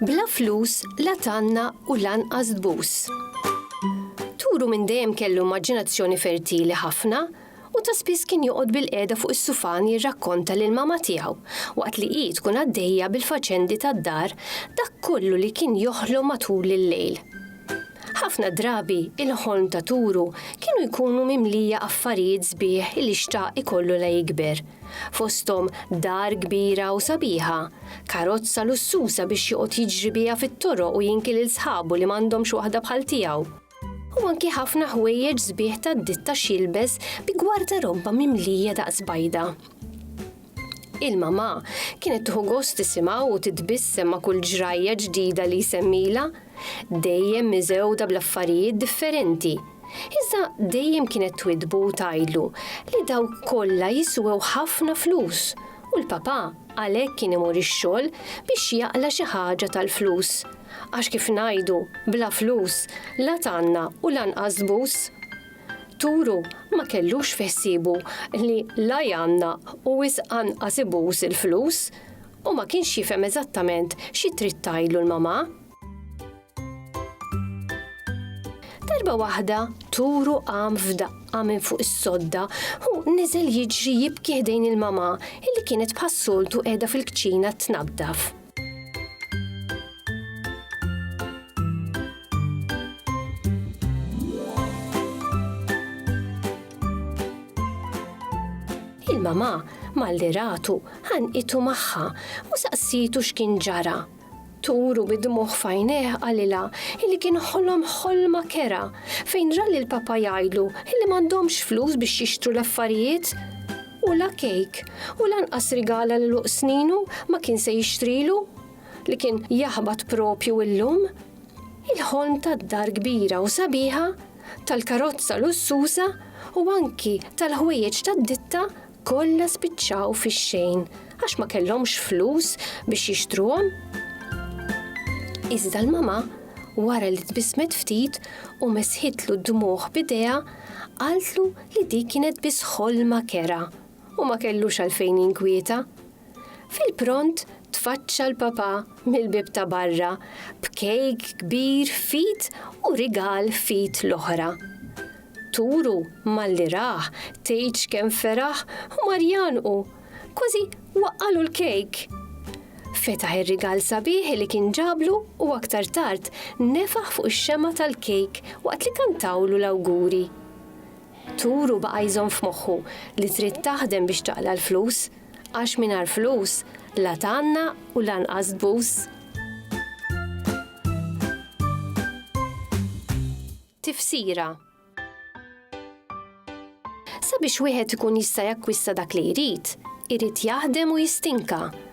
Bla flus la tanna u lanqas tbus. Turu minn dejjem kellu immaġinazzjoni fertili ħafna u ta' spiss kien joqgħod bilqiegħda fuq is-sufan jirrakkonta lil mama tiegħu, waqt li hi tkun għaddejja bil-faċendi tad-dar, dak kollu li kien joħlom matul il-lejl. Ħafna drabi, il-ħolm ta' Turu kienu jkunu mimlija affarijiet sbieħ li xtaq ikollu la jikber, fosthom dar kbira u sabiħa, karozza lussuża biex joqgħod jiġri biha fit-toroq u jinki lil sħabu li m'għandhomx waħda bħal tiegħu. u anki ħafna ħwejjeġ sbieħ ta' ditta xilbes bi gwarda robba mimlija daqs bajda. Il-mama kienet tħu gost tisimgħu u titbissem ma' kull ġrajja ġdida li jsemmila, dejjem miżewda bl-affarijiet differenti. Iżda dejjem kienet twidbu u tgħidlu li daw kollha jiswew ħafna flus u l-papa għalhekk kien imur ix-xogħol biex jaqla xi ħaġa tal-flus Għax kif ngħidu, bla flus, la tgħanna u lanqas tbus. Turu ma kellux fi ħsiebu li la jgħanna u wisq anqas ibus il-flus, u ma kienx jifhem eżattament xi trid tgħidlu l-mamà. Darba waħda Turu qam f'daqqa minn fuq is-sodda u niżel jiġri jibki ħdejn il-mamà illi kienet bħas-soltu qiegħda fil-kċina tnaddaf. il-mama malli ratu ħanqitu magħha u saqsitu x'kien ġara. Turu bid-dmuħ fajneħ għalila illi kien ħolom ħolma kera fejn ra l papa jgħidlu illi m'għandhomx flus biex jixtru l-affarijiet U la kejk, u lanqas rigala lil uqs sninu ma kien se jixtrilu, li kien jaħbat proprju illum. Il-ħolm tad-dar kbira u sabiħa, tal-karozza lussuża u anki tal-ħwejjeġ tad-ditta kollha spiċċaw fix-xejn għax ma kellhomx flus biex jixtruhom. Iżda l-mama, wara li tbissmet ftit u mesħitlu d-dmugħ b'idejha, qaltlu li dik kienet biss ħolma kerha u ma kellux għalfejn jinkwieta. Fil-pront tfaċċa l-Papà mill-bieb ta' barra b'kejk kbir f'id u rigal f'id l-oħra. Turu malli rah tgħidx kemm feraħ u mar jgħannqu, kważi waqqagħlu l-kejk. Fetaħ ir-rigal sabiħ li kien ġablu u aktar tard nefaħ fuq ix-xemgħa tal-kejk waqt li kantawlu l-awguri. Turu baqa' jżomm f'moħħu li trid taħdem biex taqla' l-flus, għax mingħajr flus la tgħanna u lanqas tbus. Tifsira, Sabiex wieħed ikun jista' jakkwista dak li jrid, irid jaħdem u jistinka.